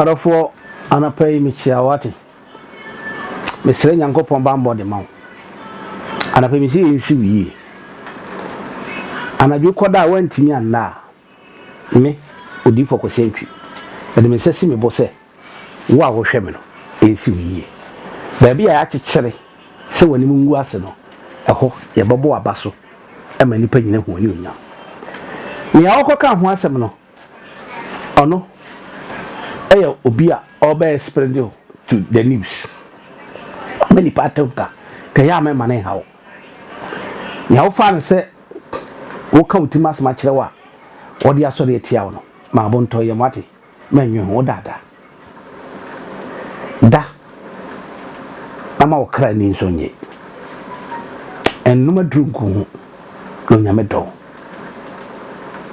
Adɔfoɔ anapa yi mekyia wo ate mesrɛ nyankopɔn bambɔ de ma wo anapa yi mesɛ yɛnsu yie anadwo kɔda a woantumi anna a Me, Odiyifoɔ Kwasi Antwi, mede me nsa si me bo sɛ wo a wohwɛ me no, ɛnsi wo yie. Baabi a yɛakyekyere sɛ w'anim ngu ase no, ɛhɔ yɛbɛbɔ w'aba so ma nnipa nyina ahu w'anuonyam. Nea wokɔkaa ho asɛm no, ɔno yɛ obi a ɔbɛyɛ spreading to the news ma nnipa atenka, ka ɛyɛ a mɛmma no nha wo. Nea wofa no sɛ woreka wo tirim asɛm akyerɛ wo a ɔde asɔre atia wo no, ma bo ntɔ yam. Woate? Mannwen ho. Wodaadaa. Da, na ma wo kra ani nsɔ nnye. Nnom aduru ngu wo ho, na Onyame dɔ wo.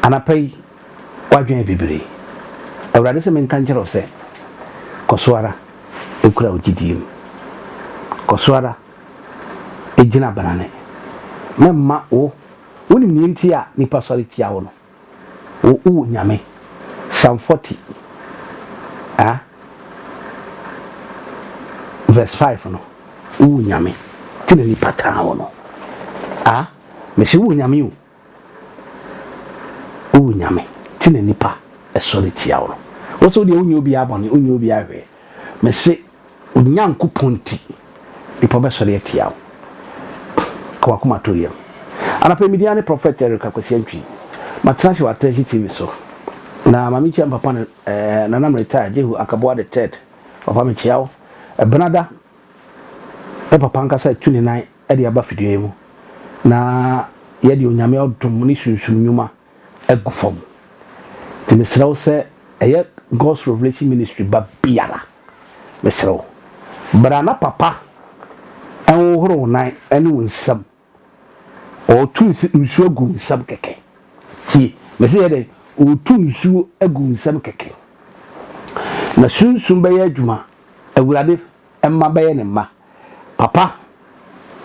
Anapa yi, w'adwene yɛ bibire. Awurade sɛ menka nkyerɛ wo sɛ, Kɔ so ara kura wo gyidie mu. Kɔ so ara. Gyina banane. Mɛmma wo Wonim nea enti a nnipa sɔre tia wo no? Wo u Nyame. Psalm 40 ah verse 5 no, wo u Nyame, nti na nnipa taa wo no. Ah, mese wo u Nyame o, O Nyame, te na nnipa sɔre tia wo no. Wo se wo deɛ wonyɛ obiara bɔne, wonyɛ obiara hwee. Mese wo Nyankopɔn nti, nnipa bɛsɔre atia wo. Ka w'akoma to yam. Anɔpa yi me din ara ne Prophet Eric Akwasi Antwi. Matena ase wɔ Atrashi TV so. Na ma menkyia me papa no, eh, Nana me retire, Jehu Akaboa the third. Papa mekyia wo. Ɛbenada ne papa ankasa atu ne nan de aba fidua mu na yɛde Onyame ɔdom ne sunsum nwuma agu fam. Nti mesrɛ wo sɛ ɛyɛ God's Revelation Ministry ba biara, mesrɛ wo, bra na papa nhohoro wo nan ne wo nsam, ɔretu nsuo agu wo nsam kɛkɛ. Tie, mese yɛ dɛn? Ɔretu nsuo agu wo nsam kɛkɛ. Na sunsum bɛyɛ adwuma, Awurade mma bɛyɛ ne mma. Papa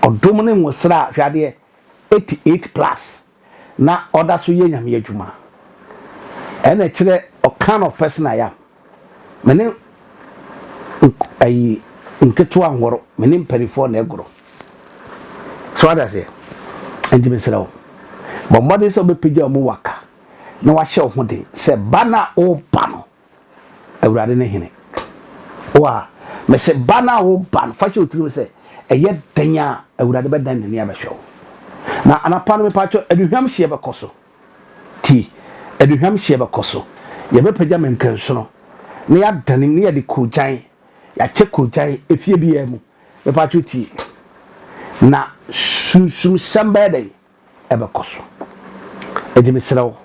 ɔdom ne nwosra a hwɛ adeɛ eighty eight plus na ɔda so yɛ nyame adwuma ɛna ɛkyerɛ ɔ kind of person I am me ne nk ayi nketewa nhoro me ne mpanifoɔ na ɛgoro so wate aseɛ nti mesrɛ wo bɔ mmɔden sɛ wobɛpagya wo mu waka na wahyɛ wo ho den sɛ ba no a woba no Awurade ne hene. Wa, mese ba no a woba no, fa hyɛ wo tirim sɛ, ɛyɛ dɛn a Awurade bɛdan n'ani abɛhwɛ wo. Na anapa no mepaatwɔ, aduhwam hyeɛ bɛkɔ so. Ti, aduhwam hyeɛ bɛkɔ so. Yɛbɛpagya mɛnkansono, na yɛadanem, na yɛde koogyan, yɛakyɛ koogyan efie biara mu. Mepaatwɔ tie. Na sunsumsɛm bɛyɛ dɛn? ɛbɛkɔ so. Enti mesrɛ wo,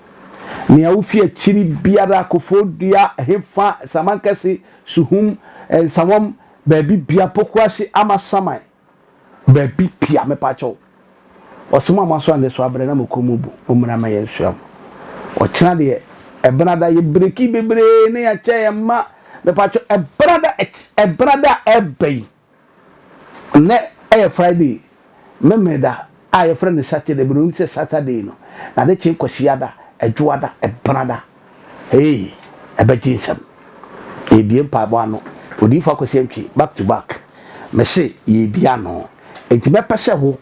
nea wufi akyiri biara, Koforidua, ɛhefa, Samankɛse, Suhum, Nsawam, baabi bia, Pokuase, Amasaman, baabi bia, mepa kyɛw, ɔsom a moaso ande so abrɛ na mo kɔn mu bu, mommra ma yɛnsoa mo. Ɔkyena deɛ, Ɛbenada, yɛ breki bebree na yɛakyɛ yɛn mma, mepa kyɛw, Ɛbenada, ɛbenada a ɛreba yi, Nnɛ yɛ Friday, Memeneda a wɔfrɛ no Saturday, Buroni sɛ Saturday no, na ade kye Kwasiada, Adwoada, Ɛbenada. Hey! Ɛbɛgye nsɛm. Yɛrebue mpaebɔ ano. Odiyifo Akwasi Antwi, back to back. Mese yɛrebue ano. Enti mɛpɛ sɛ wo,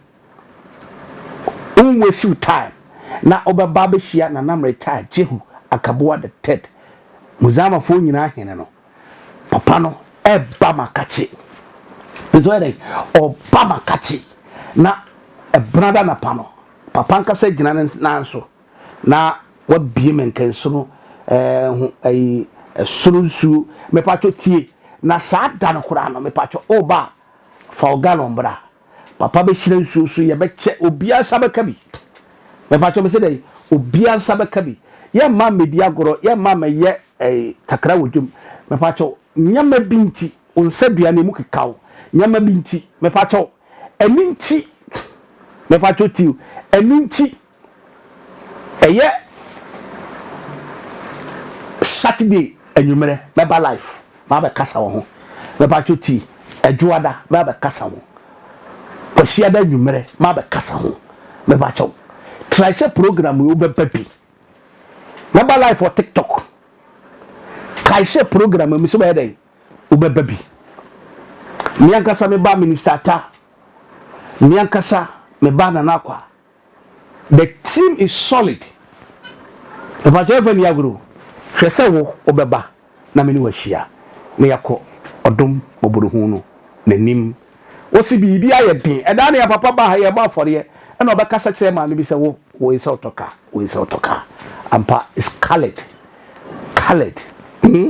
wonwaste wo time na wobɛba abɛhyia Nana Meritai Jehu Akabuah the Third, Muzaamafoɔ nyinaa hene no. Papa no ɛba ma kakye. Nso yɛ dɛn? Ɔba ma kakye. Na ɛbena da anapa no, Papa ankasa agyina ne nan so na wabie me nkansono ɛɛ ho ɛyi ɛsono nsuo. Mepatwɔ tie. Na saa da no koraa no, mepatwɔ o ba fa o galɔn bra. Papa bɛhyira nsuo so, yɛbɛkyɛ, obiara nsa bɛka bi. Mepatwɔ mese dɛn? Obiara nsa bɛka bi. Yɛmma mmɛdi agorɔ, yɛmma mmɛyɛ Ei takra wɔ dwam mepakyɛw nneɛma bi nti wo nsa dua no emu keka wo nneɛma bi nti mepakyɛw ɛno nti mepakyɛw tiw ɛno nti ɛyɛ Saturday anwummerɛ mɛba life mabɛkasa wɔ ho mepakyɛw ti adwoada mabɛkasa ho kwasiada anwummerɛ mabɛkasa ho mepakyɛw try sɛ program yi wobɛba bi Mɛba life wɔ tiktok. Kae sɛ program mi so bɛyɛ dɛn? Wobɛba bi. Me ankasa me ba Minister Ata. Me ankasa me ba Nana Akwa. The team is solid. Mpakyɛ ɛmfa ni agorɔ. Hwɛ sɛ wo wobɛba. na me ne wo ahyia na yɛakɔ ɔdom mmɔborohunu no n'anim. Wose biribi ayɛ den. Ɛda nea papa baa ha yɛrebɔ afɔreɛ ɛna ɔbɛkasa kyerɛɛ maame bi sɛ wo wo nsɛ wotɔ car wo nsɛ wotɔ car ampa it's colored colored hmm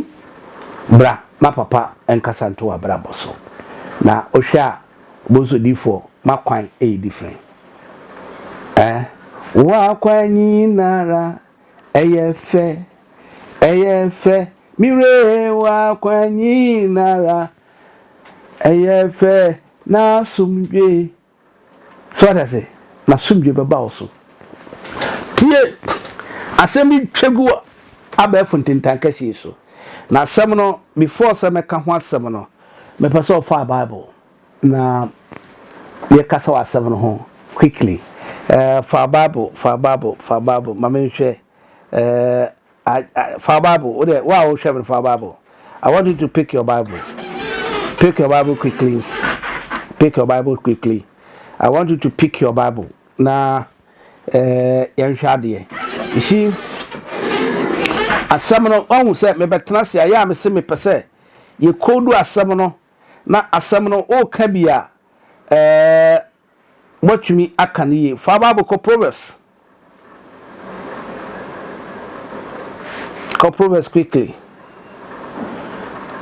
bra na papa nkasa nto w'abrabɔ so na wohwɛ a bonso difoɔ makwan ɛyɛ different eh wakwan nyinara Ɛyɛ fɛ, ɛyɛ fɛ, me were w'akwan nyinara. Ɛyɛ fɛ, n'asomdwoe. So wate ase? N'asomdwoe bɛba wo so. Tie! Asɛm bi twa gu wɔ abɛɛfo ntintankɛse yi so. Na asɛm no, before sɛ mɛka ho asɛm no, mepɛ sɛ ɔfaa Bible. Na yɛkasa wɔ asɛm no ho quickly eh, fa bible, fa bible, fa bible ma me nhwɛ eh, fa bible, wo dɛ, wo a wohwɛ me no fa bible. I want you to pick your bible, pick your bible quickly, pick your bible quickly. I want you to pick your bible na eh, yɛnhwɛ adeɛ. You see, asɛm no, wahu sɛ mebɛtena ase a, yɛ a mese mepɛ sɛ yɛkɔdu asɛm no na asɛm no woreka bi a, ɛɛ, woatumi aka no yie. Fa Bible kɔ Proverbs. Kɔ Proverbs quickly.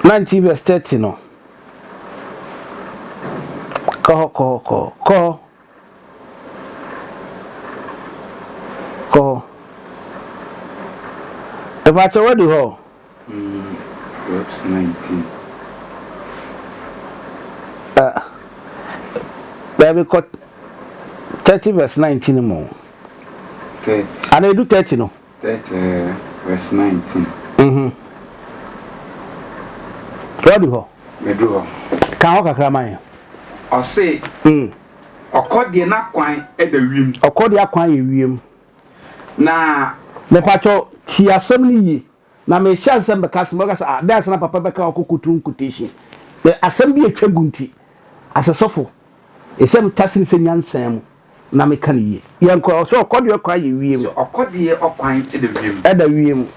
19 verse 30 no. Kɔ hɔ, kɔ hɔ, kɔ hɔ, kɔ hɔ. Kɔ hɔ. Ɛpakyɛ wadi hɔ? Daabi kɔ thirty verse nineteen mu. Ana edu thirty no? Thirty verse nineteen. Mhm. Wadu hɔ? Medu hɔ. Ka hɔ kakra ma yɛn. Ɔse. Mm. Ɔkɔ deɛ n'akwan da wiem. Ɔkɔ deɛ akwan yɛ wiem. Na. Mepakyɛ tie asɛm no yie na mehyɛ nsɛm bɛka asɛm bɛka sɛ ah dɛn asɛm na papa bɛka ɔkɔ kotu nkotation asɛm bi atwa gu nti asɛ sɔfo ɛsɛ meta sene sɛ nyansa mu. na meka no yie. Yɛn kɔ ɔsɛ ɔkɔdeɛ kwan yɛ wiem. Sɛ ɔkɔdeɛ ɔkwan da wiem. Ɛda wiem.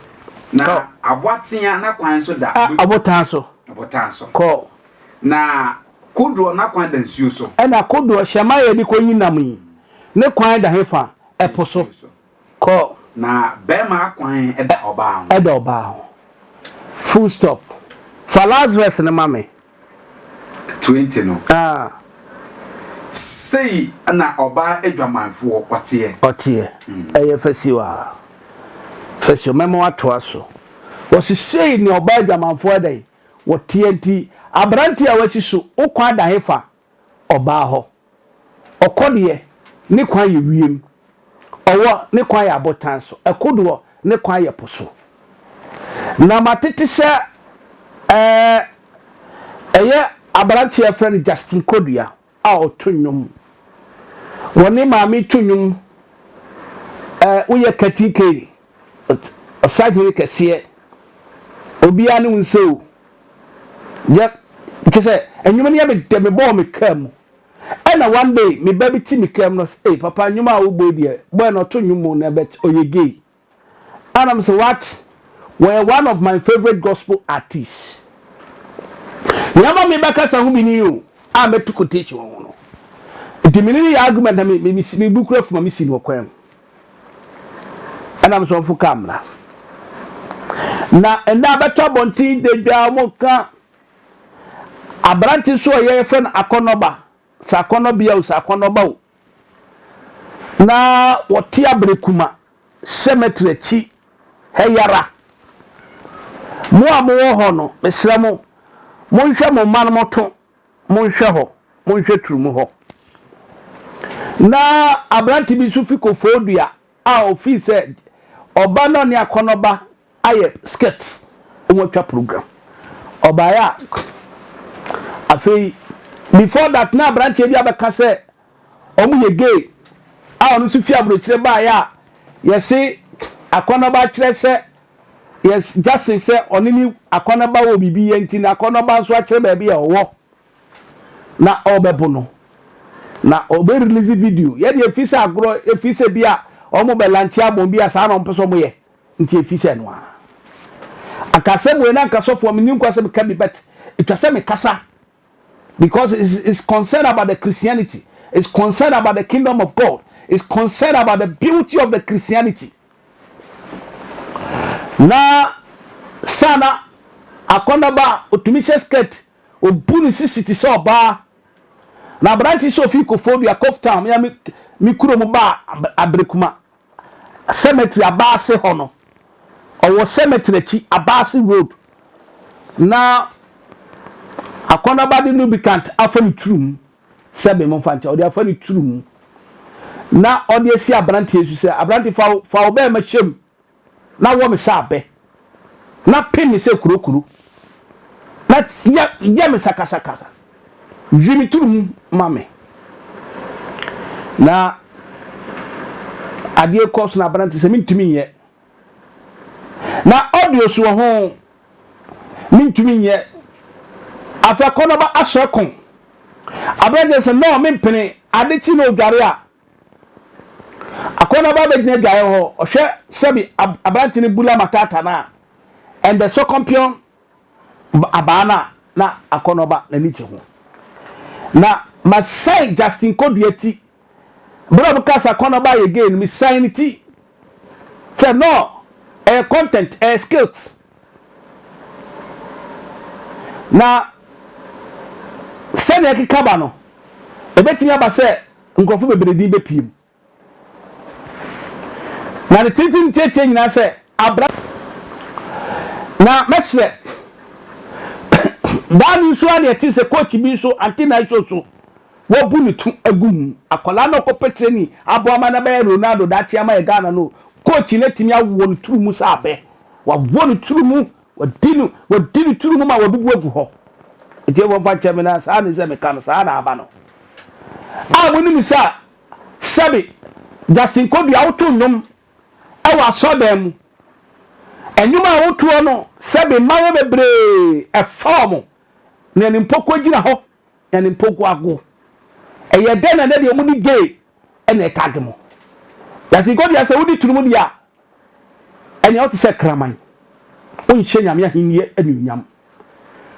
Na aboatea n'akwan nso da. Ɔbotan so. Ɔbotan so. Kɔ. Na kodoɔ n'akwan da nsuo so. Ɛna kodoɔ hyɛmma a yɛde kɔ yi nam yi ne kwan da he fa? Ɛpo so. Kɔ. Na barima akwan da ɔbaa ho. Da ɔbaa ho. Full stop. Fa last verse no ma me. Twenty no. Ah. Sei na ɔbaa adwamanfoɔ ɔteɛ. Ɔteɛ. Ɛyɛ fasuo a. Fasuo, mɛma watoa so. Wɔse sei na ɔbaa adwamanfoɔ ɛdɛn? Wɔteɛ nti, aberanteɛ a wasi so, wo kwan da hefa? Ɔbaa hɔ. Ɔkɔ deɛ, ne kwan yɛ wiem. Ɔwɔ, ne kwan yɛ abotan so. Ɛkodoɔ, ne kwan yɛ po so. Na matete sɛ ɛɛ ɛyɛ aberanteɛ a wɔfrɛ no Justin Kodua a ɔto nnwom. Wɔne Maame to nnwom ɛɛ Woyɛ Katikei Ɔsahene kɛseɛ, obiara ne wo nsɛ o. Yɛ kyɛ sɛ nnwom no yɛ me dɛ mebɔɔ me kaa mu ɛna one day me ba bi te me kaa mu na ɔsɛ ee papa nnwom a wobɔ yi deɛ boy na ɔto nnwom o na but ɔyɛ gay ana me sɛ what wɔyɛ one of my favourite gospel artists nea ama me bɛkasa ho bi ni o a mɛto quotation wɔ ho no nti me ne no yɛ argument na me me me bu kura fuma me si no ɔkwan mu ɛna mo sɔfo ka mmara na ɛnna abɛtɔ abɔnten dadwa a wɔka aberante so a yɛfrɛ no akɔnnɔba sɛ akɔnnɔbea o sɛ akɔnnɔba o na wɔte aberekuma cemetery akyi ha yara mo a mowɔ hɔ no mesrɛ mo monhwɛ mo mma no moto Monhwɛ hɔ, monhwɛ turo mu hɔ. Ná aberante bi nso fi kofoo dua a ofii sɛ ɔba na ɔne akɔnnɔ ba ayɛ skirt, wɔatwa program. Ɔbaeɛ a, afei, before that na aberanteɛ bi abɛka sɛ wɔn yɛ gay a ɔno nso fi aburokyire baeɛ a yɛse akɔnnɔ ba akyerɛ sɛ Yes, Justin sɛ ɔne ne akɔnɔba wɔ biribi yɛ nti n'akɔnɔba nso akyerɛ baabi a ɔwɔ na ɔrebɛbo no na ɔbɛ release video yɛ deɛ efi sɛ agorɔ efi sɛ bi a wɔn bɛ lanche abom bi a saa na wɔn pɛ sɛ wɔn yɛ nti efi sɛ no a ankasɛm wei na ankasɔfoɔ mi ni nkwa sɛ mi ka bi but etwa sɛ mi kasa Because it's, it's concerned about the Christianity. It's concerned about the kingdom of God. It's concerned about the beauty of the Christianity. Na sana akɔndaba otumi hyɛ skirt obu ne sisi te sɛ ɔbaa na aberante sɛ ofi kofo dua koftam ya me me kuro mu ba abere kuma cemetery abaase hɔ no ɔwɔ cemetery akyi abaase road na akɔnaba de lubricant afa ne tiri mu sɛ me momfa nkyɛ ɔde afa ne tiri mu na ɔde asi aberanteɛ su sɛ aberante fa fa wo bɛrima hyɛ mu na wɔ me sɛ abɛ na pe me sɛ kurokuro, na yɛ yɛ me sakasaka, dwi me turu mu ma me. Na adeɛ kɔ so na aberante sɛ mentumi nyɛ. Na audio so wɔ ho mentumi nyɛ. Afei akɔnɔba asɔ ɛko. Aberante sɛ no mempene, ade kye na odware a Akɔnaba abɛgyina adwaeɛ hɔ, ɔhwɛ sɛbi ab aberante no bula matata no a, and the sɔkɔmpeɔn b abaa no a, na Akɔnɔba n'ani gye ho. Na masan Justin Kodua ti. Berɛ a wɔkaa sɛ Akɔnɔba ayɛ gay no, mesan ne ti. Sɛ no ɛyɛ content, ɛyɛ skills na sɛnea ɛkeka ba no, ɛbɛtumi aba sɛ nkurɔfo bebree din bɛpue mu. Na ne tenten ntiatia nyinaa sɛ abra na mɛsrɛ daa ne nso adeɛ te sɛ coach bi nso antenna nso so Wabu ne tu agu mu. Akwadaa no a ɔkɔpɛ training aboa ma no abɛyɛ Ronaldo daakye ama yɛn Ghana no, coach no atumi awɔ ne tiri mu sɛ abɛ. Wawɔ ne tiri mu, wadi no, wadi ne tiri mu ma wabubu agu hɔ. Atiefo mfa nkyɛ me na saa ne sɛ meka no, saa na aba no. A monim sɛ sɛbe Justin Kodu a woto nnwom wɔ asɔrdan mu, nnwom a wotoɔ no sɛbe mmayewa bebree ɛfa wɔn na ɛne mpo kɔgyina hɔ Ɛne mpokuago. Ɛyɛ dɛ na na deɛ wɔde gay na ɛtag mo. Yasiko deɛ sɛ wodi tunumu deɛ a, ɛnea wote sɛ kraman. Wonhyɛ Nyame ahennie anuonyam.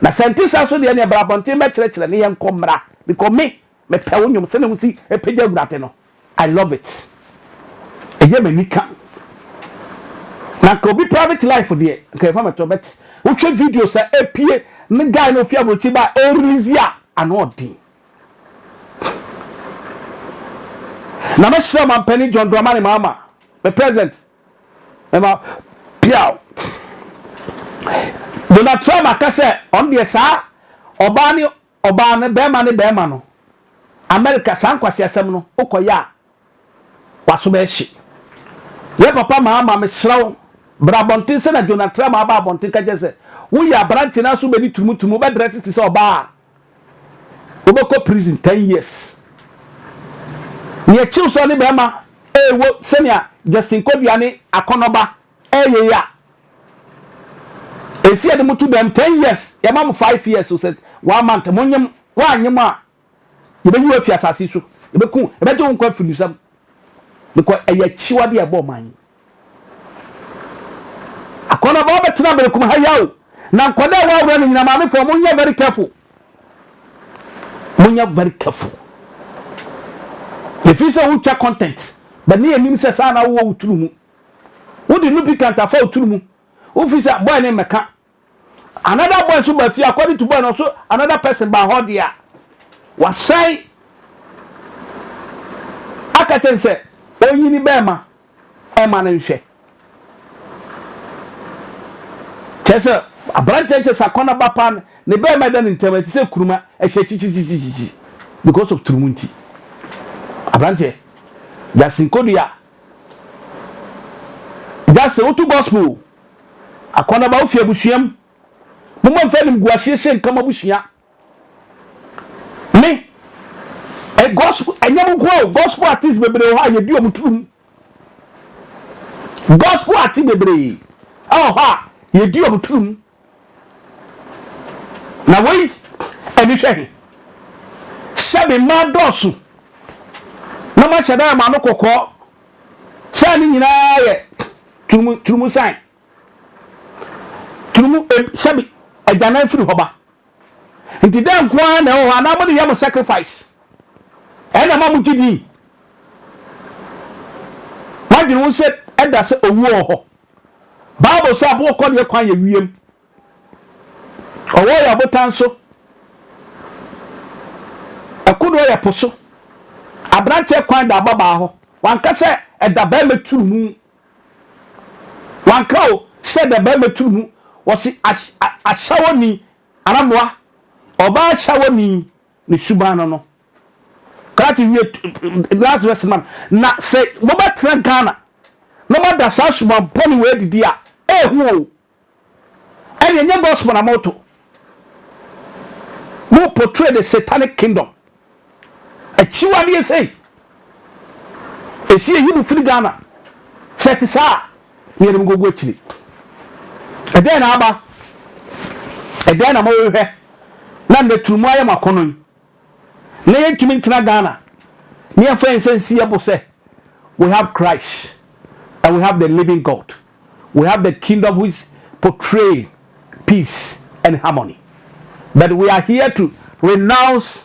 Na sɛ nte saa so deɛ ɛnea bra abɔnten bɛkyerɛkyerɛ ne yɛnkɔ mmra, because me mepɛ wo nnwom sɛnea wosi pagya awurade no. I love it ɛyɛ m'ani ka na nka obi private life deɛ nka ɛfa mɛtɔ but wotwe video sɛ epie ne guy na ofi aburokyi ba o release a ano ɔden na mɛsrɛ mampanin John Dramani Mahama me president mɛma piaw Donald Trump aka sɛ ɔno deɛ saa ɔbaa ne Ɔbaa no bɛɛma ne bɛɛma no America saa nkwaseasɛm no wokɔ yɛ a waso bɛɛhye yɛ papa maa ma mesrɛ wo bra abɔnten sɛ na Jonah Tram aba abɔnten ka kyerɛ sɛ woyɛ aberanteɛ no aso bɛdi turumu turumu wobɛ dress te sɛ ɔbaa a wobɛkɔ prison 10 years neɛ kyew sɛ ɔne bɛɛma ɛɛwo sɛnea Justin Kodua ne Akɔnɔba ɛɛyɛ yɛ a Esi yɛde mo to dɛm ten years yɛma mo five years so sɛ one month mo nyem woanyem a yɛbɛyi wo afi asase so yɛbɛku yɛbɛgye wo nkwa afiri nsam because ɛyɛ akyiwade a ɛbɔ ɔman yi akɔnɔba wobɛtena berekum ha yaw na nkɔda a wɔaworɔ no nyina maamefoɔ monyɛ very careful monyɛ very careful yɛfiri sɛ wotwa content bɛne anim sɛ saa na wowɔ wo tunu mu Wode Lupicant afa wo tiri mu. Wofi sɛ boy no mmɛka. Another boy nso ba fie according to boy no nso another person ba hɔ deɛ a wasan aka kyɛn sɛ ɔnyini bɛrima ɛma no nhwɛ. Kyɛ sɛ aberanteɛ kyɛ sɛ akɔnɔ ba paa ne bɛrima ɛda ne ntam ɛte sɛ kuruma ɛhyɛ kyikyikyikyi because of turumu nti. Aberanteɛ Justin Kodua Gya sɛ woto gospel o. Akɔnaba wofi abusua mu. Momma mfa animguaseɛ sɛ nka mabusua. Me ɛ gospel ɛnyɛ mo nkoa o gospel artist bebree wɔ hɔ a yɛdi wɔn turum. Gospel artist bebree ɛwɔ hɔ a yɛdi wɔn turum. Na wei ani hwɛ he? Sɛ me mma dɔɔso na mahyɛ da yɛ mo ano kɔkɔɔ sɛ ne nyinaa yɛ turumu turumu san turumu em sɛbi agyanan firi hɔ ba nti dɛ nko ara na ɛwɔ hɔ anaa mo de yɛ mo sacrifice ɛna ma mo gye din mo adwene ho sɛ ɛda sɛ owuo wɔ hɔ Bible sɛ aboɔ kɔneɛ kwan yɛ wiem. Ɔwɔ yɛ ɔbotan so. Ɛkodoɔ yɛ po so. Aberanteɛ kwan da ababaa hɔ. Wanka sɛ ɛda barima turu mu. Wanka o sɛ ɛda barima turu mu. Wɔsi ahyawoni anaa mmoa. Ɔbaa hyawoni. Ne suban no no. Kraate wie t last verse ma no. Na sɛ mobɛtena Ghana na moada saa suban bɔne wei adidi a, ehu o. Ɛnneɛ nyɛ gospel na moto. Mo portray the satanic kingdom. Akyiwadeɛ sei. Ɛsi yɛyi mo firi Ghana. Sɛ ɛte saa a. Yeinom nkogu akyiri. Ɛdɛn na aba? Ɛdɛn na morehwɛ na nnɛ turo mu ayɛ mo akɔnnɔ yi, na yɛntumi ntena Ghana na yɛmfa yɛn nsa nsi yɛn bo sɛ, We have Christ and we have the living God. We have the kingdom which portray peace and harmony. But we are here to renounce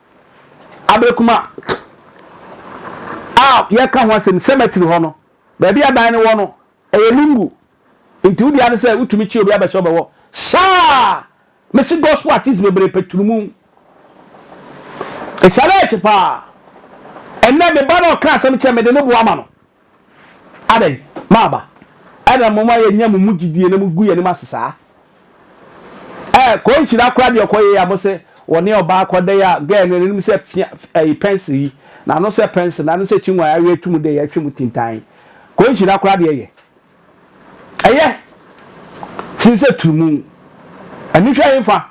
Aberekuma a yɛreka ho asɛm, cemetery hɔ no, baabi a dan no wɔ no, ɛyɛ lungu. Nti wo dea ne sɛ wotumi kye obi abɛhyɛ wobɛwɔ. Saa! Mese gospel artist bebree pɛ tunumu. Ɛsane akyi paa. Ɛnnɛ me ba no ɔka asɛm kyerɛ me de no boa ma no. Adɛn, m'aba? Ɛna moma yɛnya mo mu gyidie na mogu yɛanim ase saa? Ɛɛ, kɔ nhyira koraa deɛ ɔkɔ yei a mo se wɔne ɔbaa kɔ dɛn a, girl no n'anim sɛ fia, ɛyi, pɛnsere yi, n'ano sɛ pɛnsere, n'ano sɛ kyingwan, awe atu mo deɛ yɛhwe mo tintan. Kɔ nhyira koraa deɛ yɛ. Ɛyɛ. Sen sɛ turumu. Anihwɛ he fa?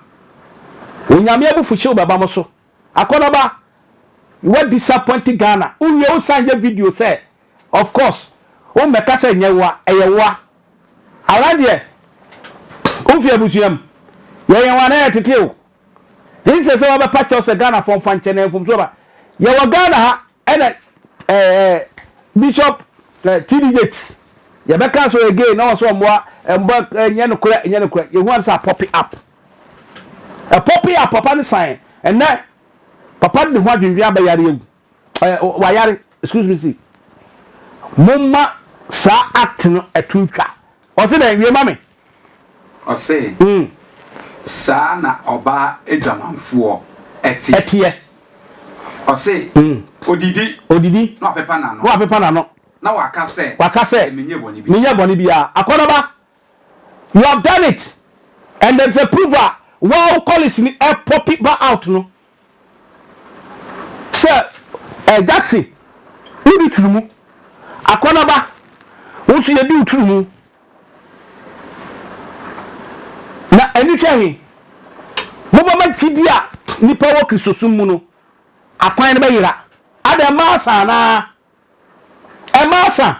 Onyame abufuhyew bɛba mo so. Akɔnɔba wa disappoint Ghana wowie wo san yɛ video sɛ of course wo mmɛka sɛ nyɛ woa ɛyɛ woa ara deɛ wofi abusua mu yɛyɛ wɔn anaa yɛtete wo nsɛ sɛ wabɛpa kyɛw sɛ Ghana fɔ mfa nkyɛ na mfomsoɔ ba yɛwɔ Ghana ha ɛna ɛɛ eh, Bishop eh, TD Yates yɛbɛka so again na wɔn so wɔn mmoa eh, mmoa eh, nyɛ no korɛ nyɛ no korɛ yɛhu ano sɛ apɔpe up. Ɛpɔ pee a papa no saeɛ. Ɛnnɛ, papa no de ho adwendwen aba yare awu. Ɛ, wayare. Excuse me, see. Momma saa act no ɛto ntwa. Ɔse dɛn? Wie ma me. Ɔse, Mm. Saa na ɔbaa adwamanfoɔ ɛteɛ. Ɛteɛ. Ɔse, Mm. Ɔdidi. Ɔdidi. Na wapepa n'ano. Na wapepa n'ano. Na waka sɛ. Waka sɛ. Menyɛ bɔne biara. Menyɛ bɔne biara. Akɔnɔba. You have done it and there is a proof a waa wo colleagues ni ɛ popi ba out no sɛ ɛ Jackson wo di turumu akɔnaba wo nso yɛ di wo turumu na ɛni hwɛ he mo bɛ ma gyidi a nipa wɔ kristosom mu no akwan no bɛ yera adɛ maa saa naa. Ɛmma asa.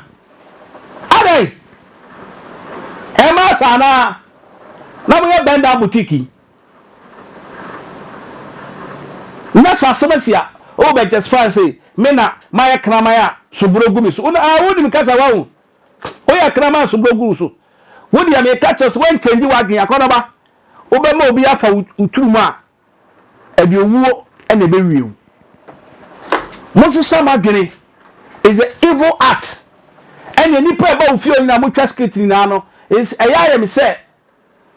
Adɛn? Ɛmma asa anaa? Na moyɛ bɛn daa boutique yi? Na sɛ asɛm asi a, wobɛ justify se me na mayɛ kraman a suburo gu me so. Wona ah wonim kasa wahu. Woyɛ kraman a suburo gu wo so. Wo deɛ meka kyerɛ wo sɛ woankyɛngye w'adwene akɔnɔba. Wobɛma obi afa wo turom a. Ɛde owuo na ɛbɛwie wo. Monsesa mo adwene is a evil art ɛneɛ nipa ɛba wo fie hɔ nyinaa motwa skit nyinaa no is ɛyɛ ayɛ me sɛ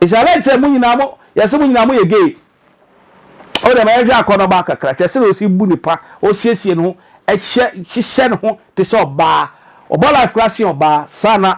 is alleged sɛ mo nyinaa mo yɛse mo nyinaa moyɛ gay o dɛm ɛyɛ hwɛ akɔnɔ baa kakra hwɛ sɛ osi bu ne pa osiesie ne ho ɛhyɛ hyehyɛ ne ho te sɛ ɔbaa ɔbɔ life koraa se ɔbaa saa na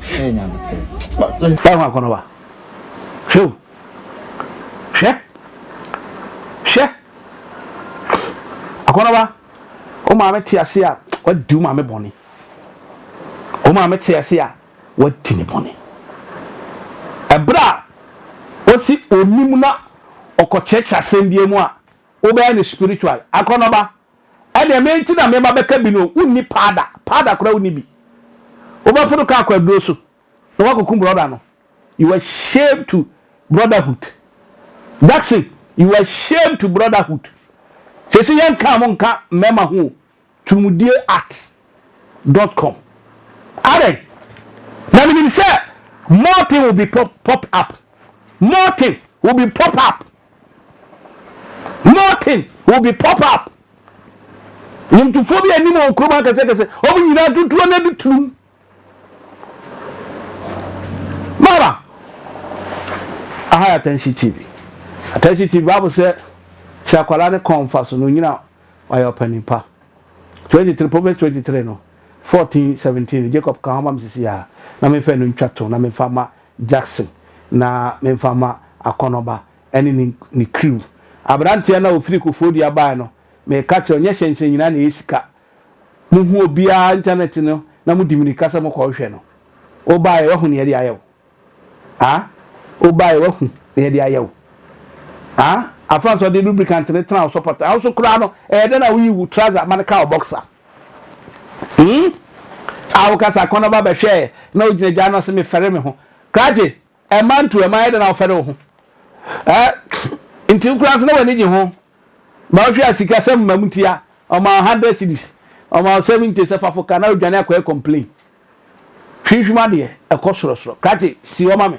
Hey, Nyankopɔn. Báyìí wọn akɔnɔ wa. Hwɛ o. Hwɛ. Hwɛ. Akɔnɔ wa. O maame te ase a wadi o maame bɔne. O maame te ase a wadi ne bɔne. Ɛberɛ a wɔsi onim na ɔkɔkyerɛkyerɛ asɛm bi mu a, wobɛyɛ no spiritual. Akɔnɔ ba, Ɛdeɛ me nti na meba bɛka bi no wonni paada paada koraa wonni bi wobɛfono kaa kɔ aduro so na woakɔkum brɔda no you are shame to brotherhood Jackson you are shame to brotherhood sese yɛnkaa mo nka mmarima ho o turumudie at dot com adɛn na menim sɛ more thing will be pop, popped up more thing will be pop up Nothing will be pop up. Nnwomtofoɔ bi anim wɔ kurom akɛsɛkɛsɛ. Wɔn nyinaa tutuo na de turum. Mama, aha yɛ Atɛnhye TV. Atɛnhye TV Bible sɛ sɛ akwadaa ne kɔn fa so no nyina wayɛ ɔpanin pa. 23 Proverbs 23 no 14 17 Jacob ka ho ma me sisi a na mefa no ntwa to na mefa ma Jackson na memfa mma Akɔnɔba ne ne ne crew. Aberanteɛ no a ɔfiri Koforidua baeɛ no, meka kyerɛɛ no, nyɛ hyɛnhyɛn nyinaa na ɛyɛ sika. Mohu obiara internet no na modi mmirika sɛ mokɔhwehwɛ no. Wobaeɛ woahu nea yɛde ayɛ wo. Ah? Wobaeɛ woahu nea yɛde ayɛ wo. Ah? Afa nso ɔde lubricant no tena wo sɔpɔtɔ. Wo nso koraa no, ɛyɛ dɛn na woyi wo trouser ma no ka wo boxer? Hmm? A woka sɛ akɔnnɔba bɛhwɛɛ na ogyina gya ano se mefɛre me ho. Krakye, ɛmma ntu, ɛmma ayɛ dɛ na wofɛre wo ho. Eh, nti wo koraa nso na w'ani gye ho. Ma wohwɛ a sikasɛm ma mu ti a, ɔma wo hundred cedis, ɔma wo seventy sɛ fa fo ka na wodwane akɔyɛ complain. Hwinhwim adeɛ, ɛkɔ sorɔsorɔ. Krakye, si hɔ ma me.